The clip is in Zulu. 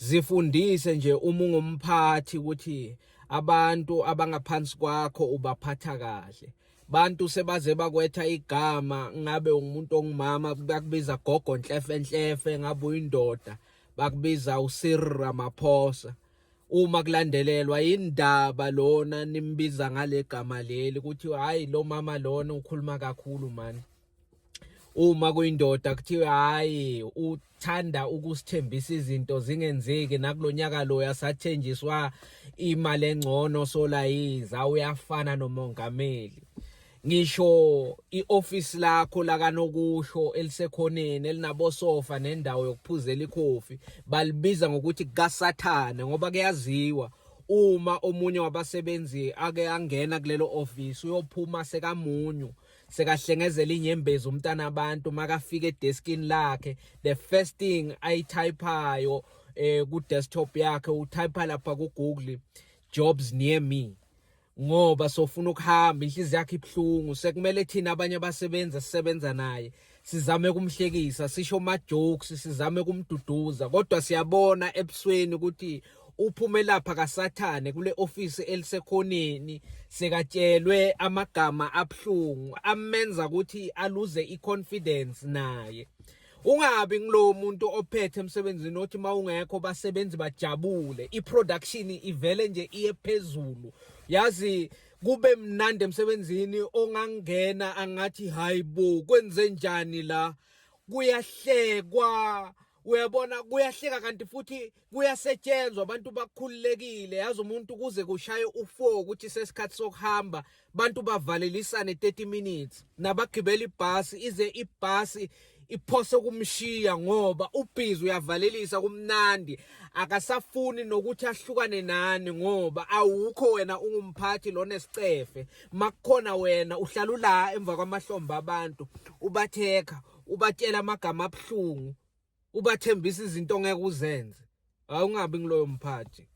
Zifundise nje uma ungumphathi ukuthi abantu abangaphansi kwakho ubaphatha kahle. Bantu sebaze bakwetha igama ngabe ungumuntu ongumama bakubiza gogo nhlefe nhlefe ngabe uyindoda bakubiza uSir Ramaphosa. Uma kulandelelwa indaba lona nimbiza ngale gama leli ukuthi hayi lo mama lona ukhuluma kakhulu manje. uma kuyindoda kuthiwe hayi uthanda ukusithembisa izinto zingenzeki nakulonyaka lo yasathenjiswa imali engcono solayiza uyafana nomongameli ngisho ioffice lakho lakanokusho elisekhoneni elinabosofa nendawo yokuphuzela ikhofi balibiza ngokuthi kasathane ngoba kuyaziwa uma omunye wabasebenzi ake angena kulelo office uyophuma sekamunyu sekahlengezela inyembezi umntana abantu makafika edeskini lakhe the first thing ayityphayo eh ku desktop yakhe utypha lapha ku Google jobs near me ngoba sofuna ukuhamba inhliziyo yakhe ibhlungu sekumele thina abanye abasebenzi sisebenza naye sizame kumhlekisa sisho ma jokes sizame kumduduza kodwa siyabona ebusweni ukuthi uphume lapha kasathane kule office elisekhoneni sekatshelwe amagama abhlungu amenza ukuthi aluze iconfidence naye ungabi ngilowo muntu ophethe emsebenzini othi uma ungekho basebenzi bajabule i-production ivele nje iye phezulu yazi kube mnandi emsebenzini ongangena angathi hayi bo kwenze njani la kuyahlekwa uyabona kuyahleka kanti futhi kuyasetshenzwa abantu bakhululekile yazi umuntu kuze kushaye u4 ukuthi sesikhathi sokuhamba abantu bavalelisane 30 minutes nabagibela ibhasi ize ibhasi iphose ukumshiya ngoba ubhizi uyavalelisa kumnandi akasafuni nokuthi ahlukane nani ngoba awukho wena ungumphathi lona esicefe makukhona wena uhlala ula emva kwamahlombe abantu ubatheka ubatshela amagama abuhlungu ubathembisa izinto ongeke uzenze awungabi ngiloyo mphathi